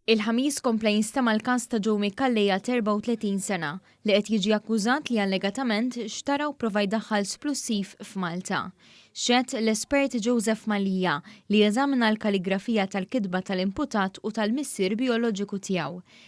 Il-Ħamis kompla jinstema' l-każ ta' Joe Micallea ta' 34 sena li qed jiġi akkużat li allegatament xtara u prova jdaħħal splussiv f'Malta. Xehed l-espert Joseph Mallia li eżamina l-kaligrafija tal-kitba tal-imputat u tal-missier bijoloġiku tiegħu.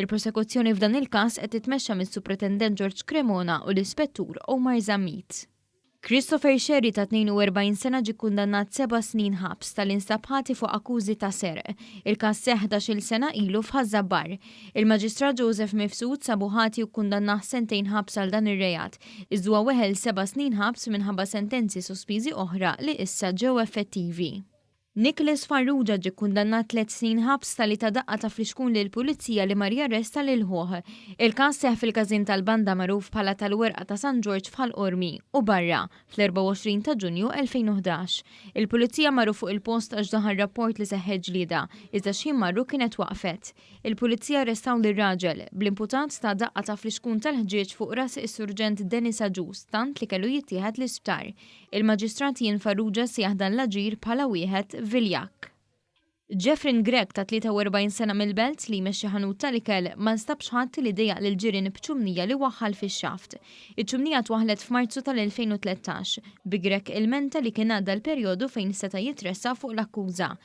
Il-prosekuzzjoni f'dan il-każ qed titmexxa mis-Supretendent George Cremona u l-Ispettur Omar Zammit. Christopher Scerri ta' 42 sena ġie kkundannat seba' snin ħabs ta' li nstab ħati fuq akkużi ta' serq. Il-każ seħħ ħdax-il sena ilu f'Ħaż-Żabbar. Il-Maġistrat Joseph Mifsud sabu ħati u kkundannah sentejn ħabs għal dan ir-reat, iż dwa weħel seba' snin ħabs minħabba sentenzi sospiżi oħra li issa ġew effettivi. Nicholas Farrugia ġie kkundannat tliet snin ħabs talli ta daqqa ta' flixkun lill-Pulizija li mar jarresta lil ħuh. Il-każ seħħ fil-każin tal-banda magħruf bħala tal-Werqa ta' San Ġorġ f'Ħal Qormi u barra, fl-24 ta' Ġunju 2011. Il-Pulizija marru fuq il-post għax daħal rapport li seħħet ġlieda, iżda x'ħin marru kienet waqfet. Il-Pulizija arrestaw lir-raġel, bl-imputat ta' daqqa ta' flixkun tal-ħġieġ fuq ras is-Surġent Denis Agius tant li kellu jittieħed l-isptar. Il-Maġistrat Ian Farrugia sejjaħ dan l-aġir bħala wieħed viljakk. Jeffryn Grech ta' 43 sena mill-Belt, li jmexxi ħanut tal-ikel, ma nstabx ħadd li dejjaq lill-ġirien b'ċumnija li waħħal fix-xaft. Iċ-ċumnija twaħħlet f'Marzu tal-2013, bi Grech ilmenta li kien għadda l-perjodu fejn seta' jitressaq fuq l-akkuża.